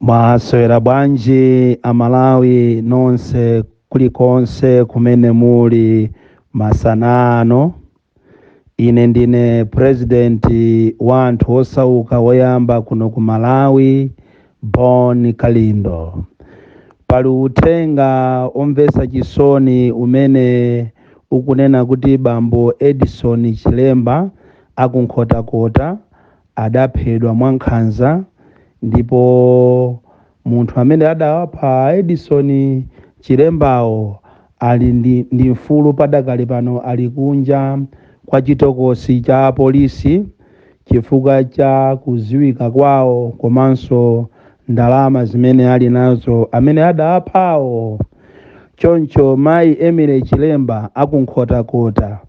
Mwaswera bwanji Amalawi nonse kulikonse kumene muli masana ano. Ine ndine President wa anthu osauka woyamba kuno ku Malawi, Bon Kalindo. Pali uthenga omvetsa chisoni umene ukunena kuti bambo Edison Chilemba aku Nkhotakota adaphedwa mwankhanza ndipo munthu amene adawapha a Edison Chilembawo ali ndi mfulu padakali pano ali kunja kwa chitokosi cha polisi chifukwa cha kudziwika kwawo komanso ndalama zimene ali nazo amene adawaphawo choncho mayi Emily Chilemba a ku Nkhotakota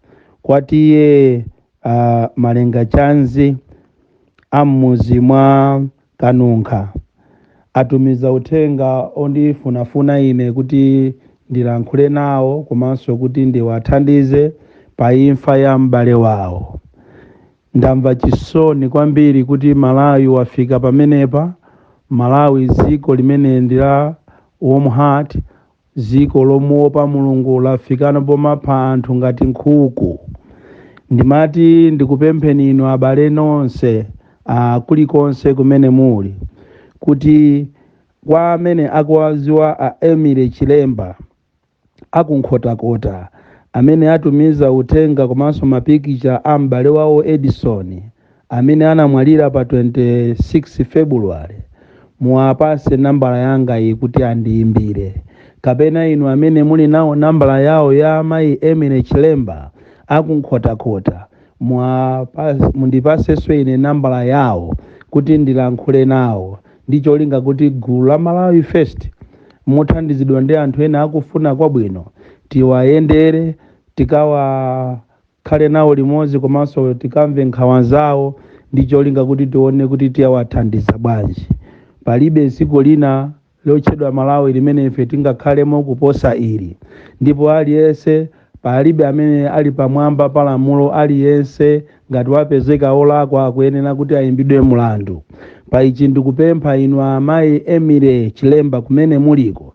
kwa T/A Malengachanzi a m'mudzi mwa Kanunkha atumiza uthenga ondifunafuna ine kuti ndilankhule nawo komanso kuti ndiwathandize pa imfa ya m'bale wawo. Ndamva chisoni kwambiri kuti Malawi wafika pamenepa, Malawi dziko limene ndi la warm heart, Dziko lomuopa Mulungu lafika no pomapha anthu ngati nkhuku. Ndimati ndikupempheni inu abale nonse kulikonse kumene muli kuti kwa amene akuwadziwa a Emily Chilemba a ku Nkhotakota amene atumiza uthenga komanso mapikicha a m'bale wawo Edison amene anamwalira pa 26 Febuluwale, muwapatse nambala yangayi kuti andiimbire. Kapena inu amene muli nawo nambala yawo ya mayi Emily Chilemba a ku Nkhotakota, mundipatsenso ine nambala yawo kuti ndilankhule nawo ndi cholinga kuti gulu la Malawi First mothandizidwa ndi anthu ena akufuna kwabwino tiwayendere, tikawa. khale nawo limodzi komanso tikamve nkhawa zawo ndi cholinga kuti tione kuti tiawathandiza bwanji. Palibe dziko lina lotchedwa Malawi limene ife tingakhalemo kuposa ili. Ndipo aliyense, palibe amene ali pamwamba pa lamulo, aliyense ngati wapezeka olakwa akuyenera kuti ayimbidwe mlandu. Pa ichi ndikupempha inu amayi Emily Chilemba kumene muliko,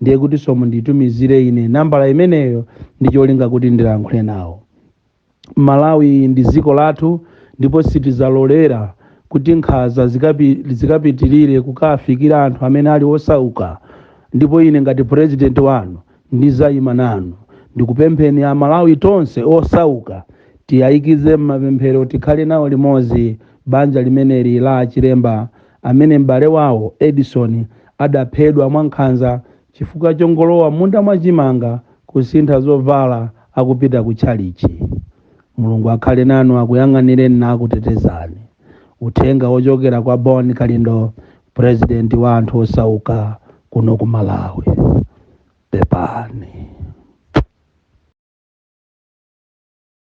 ndiye kutinso munditumizire ine nambala imeneyo ndi cholinga kuti ndilankhule nawo malawi ndi dziko lathu ndipo sitizalolera kuti nkhanza zikapitirire kukafikira anthu amene ali osauka ndipo ine ngati purezidenti wanu ndizayima nanu ndikupempheni amalawi tonse osauka tiyayikize m'mapemphero tikhale nawo limodzi banja limeneli la achilemba amene m'bale wawo Edison adaphedwa mwankhanza chifukwa chongolowa m'munda mwa chimanga kusintha zovala akupita ku tchalitchi. Mulungu akhale nanu akuyang'anireni nakutetezani. Uthenga wochokera kwa Bon Kalindo President wa anthu osauka kuno ku Malawi. Pepani.